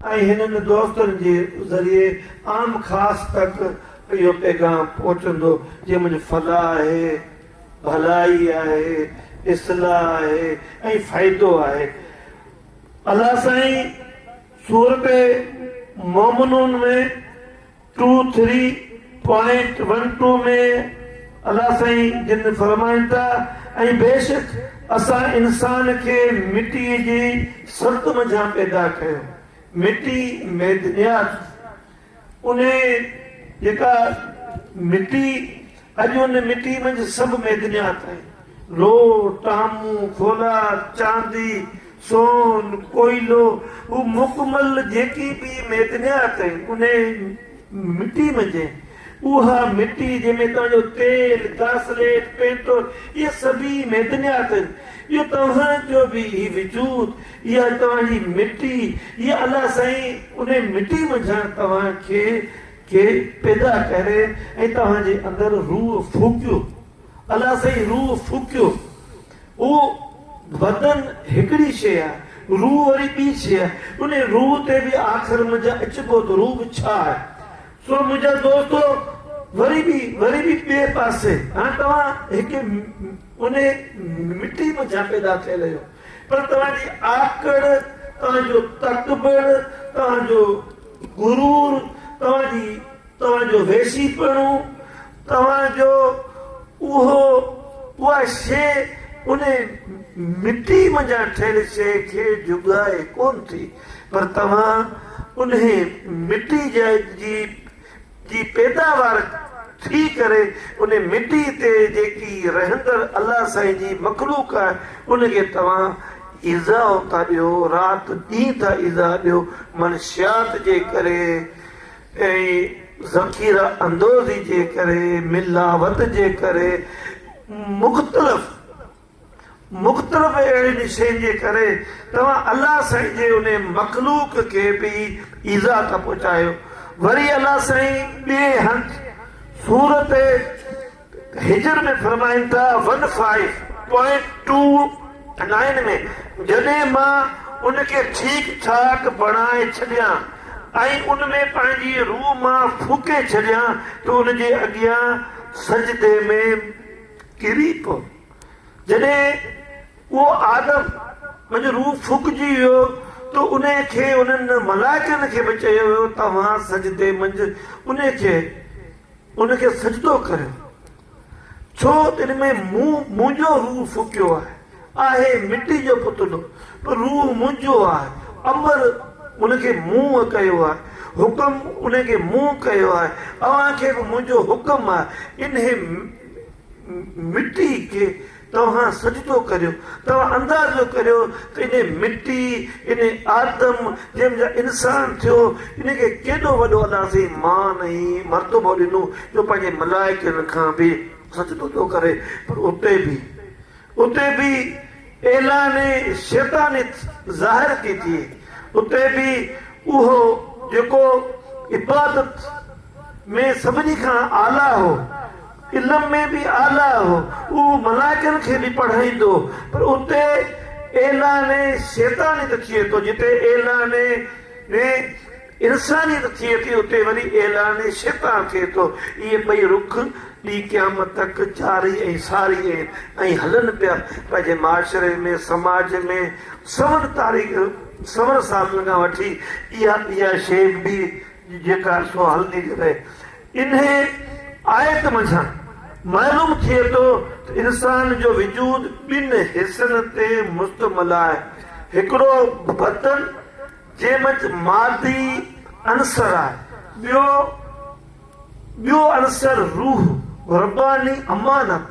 ۽ هنن دوستن جي ذريعي عام خاص تڪ اهو پيغام پهچندو جي منهنجي فلاح آهي، ڀلائي آهي، اصلاح آهي ۽ فائدو آهي. الله سائين سورته مومنون ۾. Two three point one two ۾ الله سائين جن فرمائن ٿا ۽ بيشڪ اسان انسان کي مٽيء جي سرت منجهان پيدا ڪيو مٽي ميدنيات انهي جيڪا مٽي اڄ ان مٽي منجهه سڀ معدنيات آهن، لوهه، ٽامون، فولاد، چاندي، سون، ڪوئلو، هو مڪمل جيڪي به معدنيات آهن ان مٽي منجهه آهن. اها مٽي جنهن ۾ توهان جو تيل، گاسليٽ، پينٽول اهي سڀ ئي معدنيات آهن. اهو توهان جو به هي وجود، اها توهان جي مٽي، اها الله سائين ان مٽي منجهان توهان کي کي پيدا ڪري ۽ توهان جي اندر روح ڦوڪيو الله سائين روح ڦوڪيو اهو بدن هڪڙي شيء آهي روح وري ٻي شيء آهي ان روح تي به آخر منهنجا اچبو ته روح به ڇا آهي سو منهنجا دوستو وري به وري به ٻئي پاسي هاڻ توهان هڪ ان مٽي منجهان پيدا ٿيل آهيو پر توهان جي آڪڙ توهان جو تڪبر توهان جو غرور، توهان جي توهان جو ويسيپڻو، توهان جو اهو اها شيء انهي مٽي منجهان ٺهيل شيء کي جهڳائي ڪونه ٿي، پر توهان انهي مٽي جي جي پيداوار ٿي ڪري ان مٽي تي جيڪي رهندڙ الله سائين جي مخلوق آهي ان کي توهان ايذاء ٿا ڏيو رات ڏينهن ٿا ايذاء ڏيو منشيات جي ڪري ۽ ذخيره اندوزي جي ڪري ملاوت جي ڪري مختلف مختلف اهڙين شين جي ڪري توهان الله سائين جي ان مخلوق کي به ايذاء ٿا پهچايو وري الله سائين ٻئي هنڌ سورت هجر ۾ فرمائن ٿا one five point two nine ۾ جڏهن مان ان کي ٺيڪ ٺاڪ بڻائي ڇڏيان ۽ ان ۾ پنهنجي روح مان ڦوڪي ڇڏيان ته ان جي اڳيان سجدي ۾ ڪري پيو. جڏهن اهو آدم منجهه روح ڦوڪجي ويو ته انهي کي انهن ملائڪن کي به چيو ويو توهان سجدي منجهه انهي کي ان کي سجدو ڪريو ڇو تن ۾ مون منهنجو روح ڦوڪيو آهي. آهي مٽي جو پتلو پر روح منهنجو آهي امر ان کي مون ڪيو آهي حڪم ان کي مون ڪيو آهي اوهان کي به منهنجو حڪم آهي انهي مٽي کي توهان سجدو ڪريو توهان اندازو ڪريو ته انهي مٽي انهي آدم جنهن منجهان انسان ٿيو ان کي ڪيڏو وڏو الله سائين مان ۽ مرتبو ڏنو جو پنهنجي ملائڪن کان به سجدو ٿو ڪري پر اتي به اتي به ايلان شيطانيت ظاهر ٿي ٿئي، اتي به اهو جيڪو عبادت ۾ سڀني کان اعليٰ هو، علم ۾ به اعليٰ هو، اهو ملائڪن کي به پڙهائيندو، پر اتي ايلان شيطانيت ٿئي ٿو، جتي ايلان ۾ انسانيت ٿئي ٿي اتي وري اعلان شفا ٿئي ٿو. اهي ٻئي رخ ٻي قيامت تڪ جاري ۽ ساري آهن ۽ هلن پيا. پنهنجي معاشري ۾، سماج ۾، سون تاريخ، سون صحافين کان وٺي اها اها شيء به جيڪا سو هلندي ٿي رهي. انهيء آيت منجهان معلوم ٿئي ٿو ته انسان جو وجود ٻن حصن تي مشتمل آهي، هڪڙو بدن جنهن منجهه مادي عنصر آهي، ٻيو ٻيو عنصر روح، رباني امانت،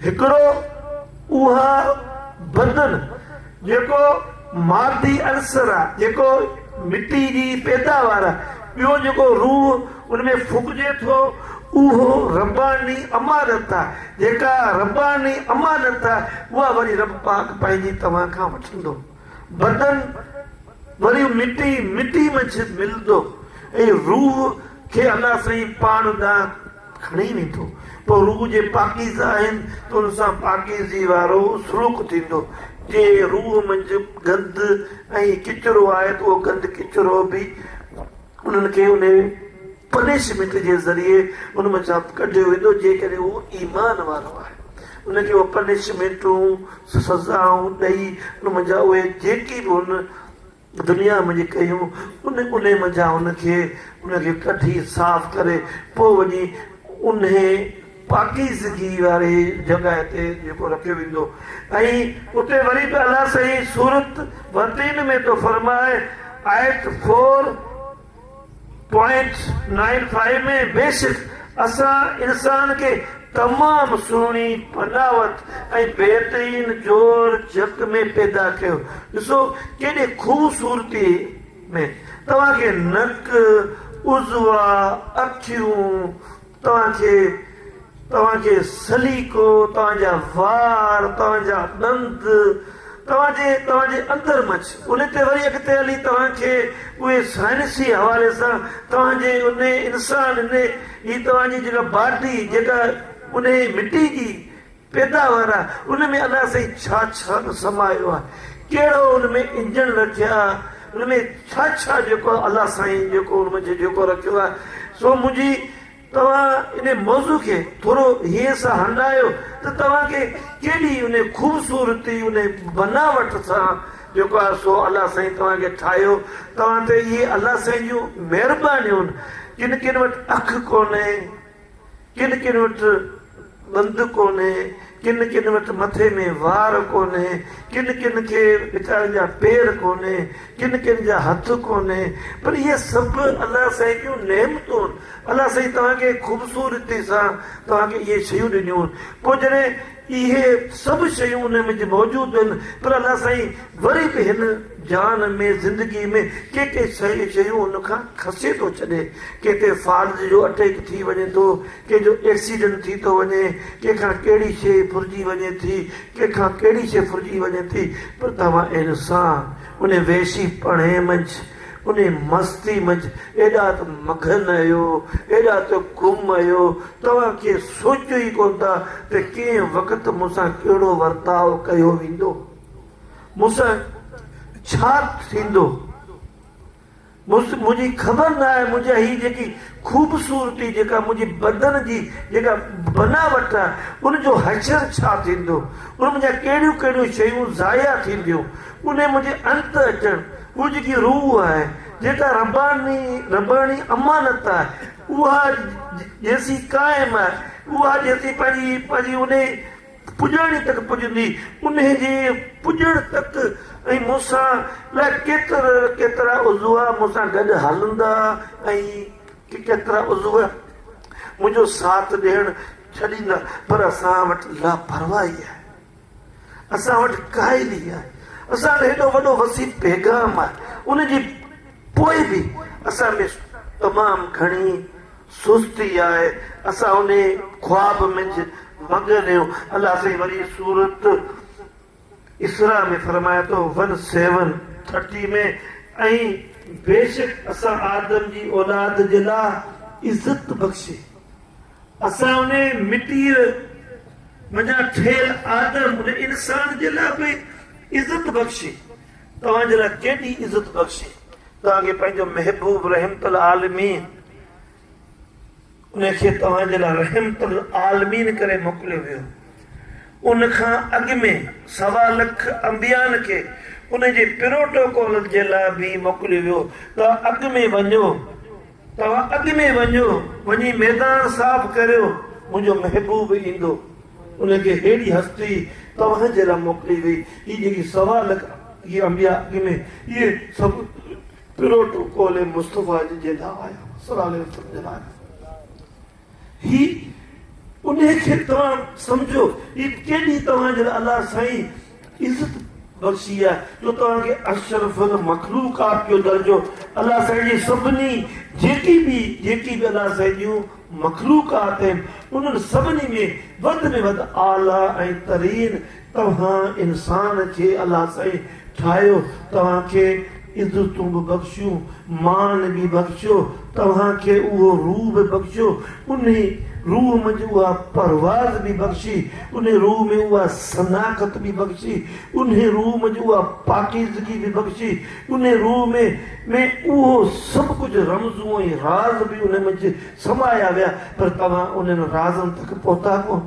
هڪڙو اها بدن جيڪو مادي عنصر آهي، جيڪو مٽي جي پيداوار آهي، ٻيو جيڪو روح ان ۾ ڦڪجي ٿو، اهو رباني امانت آهي، جيڪا رباني امانت آهي، اها وري رب پاڪ پنهنجي توهان کان وٺندو. بدن وري مٽي مٽي منجهه ملندو ۽ روح کي الله سائين پاڻ ڏانهن کڻي ويندو پوء روح جي پاڪيزه آهن ته ان سان پاڪيزي وارو سلوڪ ٿيندو جي روح منجهه گند ۽ ڪچرو آهي ته اهو گند ڪچرو به انهن کي انهي پنشمينٽ جي ذريعي ان مان جاب ڪڍيو ويندو جيڪڏهن هو ايمان وارو آهي ان کي اهي پنشمينٽون سزائون ڏئي ان منجهان اهي جيڪي به هن دنيا منجهه ڪيون ان انهي منجهان هن کي ان کي ڪڍي صاف ڪري پوء وڃي انهي پاڪيزگي واري جڳهه تي جيڪو رکيو ويندو ۽ اتي وري به الله سائين سورت وتين ۾ ٿو فرمائي آيت فور پوائنٽ نائن فائيو ۾ بيشڪ اسان انسان کي تمام سهڻي بناوت ۽ بهترين جوڙ جڪ ۾ پيدا ڪيو ڏسو ڪيڏي خوبصورتي ۾ توهان کي نڪ عضوا اکيون توهان کي توهان جي سليقو، توهان جا وار، توهان جا ڏند، توهان جي توهان جي اندر مڇ، ان تي وري اڳتي هلي توهان کي اهي سائنسي حوالي سان توهان جي ان انسان ان جي توهان جي جيڪا باڊي جيڪا ان مٽي جي پيداوار آ ان ۾ الله سائين ڇا ڇا نه سمايو آ ڪهڙو ان ۾ انجڻ رکيا آ ان ۾ ڇا ڇا جيڪو الله سائين جيڪو ان منجهه جيڪو رکيو آ سو منهنجي توهان ان موضوع کي ٿورو هيئن سان هنڊايو ته توهان کي ڪيڏي ان خوبصورتي ان بناوٽ سان جيڪو آ سو الله سائين توهان کي ٺاهيو توهان تي اهي الله سائين جون مهربانيون جن ڪن وٽ اک ڪونهي ڪن ڪن وٽ ڏند ڪونهي، ڪن ڪن وٽ مٿي ۾ وار ڪونهي، ڪن ڪن کي ويچارن جا پير ڪونهي، ڪن ڪن جا هٿ ڪونهي، پر اهي سڀ الله سائين جون نعمتون، الله سائين توهان کي خوبصورتي سان توهان کي اهي شيون ڏنيون، پوء جڏهن اهي سڀ شيون ان وچ موجود آهن پر الله سائين وري به هن جان ۾ زندگي ۾ ڪي ڪي شيون هن کان کسي ٿو ڇڏي ڪي ڪي فالج جو اٽيڪ ٿي وڃي ٿو ڪي جو ايڪسيڊنٽ ٿي ٿو وڃي ڪي کان ڪهڙي شي ڦرجي وڃي ٿي ڪي کان ڪهڙي شي ڦرجي وڃي ٿي پر توهان انسان ان وحشي پڻهي منجھ انهيء مستيء منجهه ايڏا ته مگهن اهيو، ايڏا ته گم اهيو، توهان ڪي سوچيو ئي ڪونه ٿا ته ڪنهن وقت مون سان ڪهڙو ورتاء ڪيو ويندو، مون سان ڇا ٿيندو. منهنجي خبر نه آهي منهنجا هي جيڪي خوبصورتي، جيڪا منهنجي بدن جي جيڪا بناوٽ آهي، ان جو حشر ڇا ٿيندو، ان منجهان ڪهڙيون ڪهڙيون شيون ضايع ٿينديون، انهيء منجهه انت اچڻ، اها جيڪي روح آهي، جيڪا رباني، رباني امانت آهي، اها جيسين قائم آهي، اها جيسين پنهنجي، پنهنجي انهي پڄاڻي تڪ پڄندي، انهي جي پڄڻ تڪ ۽ مون سان الاء ڪيتر، ڪيترا عضوا مون سان گڏ هلندا ۽ ڪيترا عضو منهنجو ساٿ ڏيڻ ڇڏيندا، پر اسان وٽ لاپرواهي آهي. اسان وٽ ڪائي لي آهي اسان وٽ هيڏو وڏو وسيع پيغام آهي ان جي پوء به اسان ۾ تمام گهڻي سستي آهي اسان انهي خواب منجھ مگن اهيون الله سائين وري سورت اسراء ۾ فرمائي ٿو ون سيون ٿرٽي ۾ ۽ بيشڪ اسان آدم جي اولاد جي لاء عزت بخشي. اسان ان مٽيء منجهان ٺهيل آدم ان انسان جي لاء به عزت بخشي، توهان جي لاء ڪيڏي عزت بخشي، توهان کي پنهنجو محبوب رحمت العالمين ان کي توهان جي لاء رحمت العالمين ڪري موڪليو ويو. ان کان اڳ ۾ سوا لک انبيائن کي ان جي پروٽوڪول جي لاء به موڪليو ويو ته اڳ ۾ وڃو، توهان اڳ ۾ وڃو، وڃي ميدان صاف ڪريو، منهنجو محبوب ايندو. ان کي ههڙي هستي توهان جي لاء موڪلي وئي. هي جيڪي سوا لک اهي انبياء اڳ ۾ اهي سڀ پروٽوڪول مصطفيٰ جي جي لاء آيا هئا صلّي الله عليه وسلّم جي لاء آيا هئا. هي انهي کي توهان سمجهو هي ڪيڏي توهان جي لاء الله سائين عزت بخشي آ جو توهان کي اشرف المخلوقات جو درجو الله سائين جي سڀني جيڪي به جيڪي به الله سائين جون مخلوقات آهن انهن سڀني ۾ وڌ ۾ وڌ اعليٰ ۽ ترين توهان انسان کي الله سائين ٺاهيو توهان کي عزتون به بخشيون مان به بخشيو توهان کي اهو روح به بخشيو انهي روح منجهه اها پرواز به بخشي انهي روح ۾ اها صناخت به بخشي انهي روح منجهه اها پاڪيزگي به بخشي انهي روح ۾ ۾ اهو سڀ ڪجهه رمزون ۽ راز به انهي منجهه سمايا ويا پر توهان انهن رازن تڪ پهتا ڪونه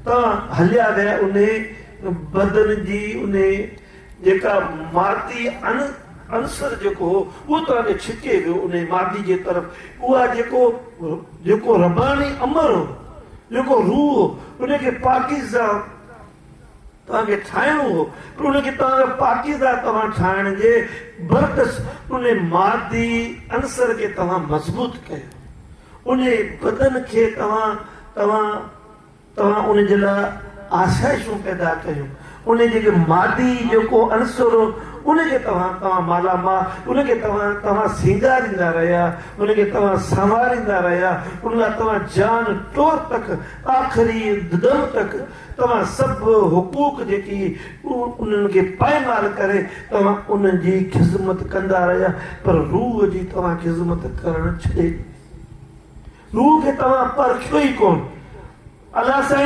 تان هليا ويا انهي بدن جي انهي جيڪا مادي عنصر جيڪو هو اهو توهان کي ڇڪي ويو انهي مادي جي طرف اها جيڪو جيڪو رباني امر هو جيڪو روح هو انهي کي پاڪيزه توهان کي ٺاهڻو هو پر ان کي توهان جو پاڪيزه توهان ٺاهڻ جي برعڪس ان مادي عنصر کي توهان مضبوط ڪيو ان بدن کي توهان توهان توهان ان جي لاء آسائشون پيدا ڪيون ان جي مادي جيڪو عنصر هو ان کي توهان توهان مالا مال ان کي توهان توهان سينگاريندا رهيا ان کي توهان سنواريندا رهيا ان لاء توهان جان ٽور تڪ آخري دم تڪ توهان سڀ حقوق جيڪي انهن کي پائمال ڪري توهان انهن جي خذمت ڪندا رهيا پر روح جي توهان خذمت ڪرڻ ڇڏي ڏني روح کي توهان پرکيو ئي ڪون الله سائين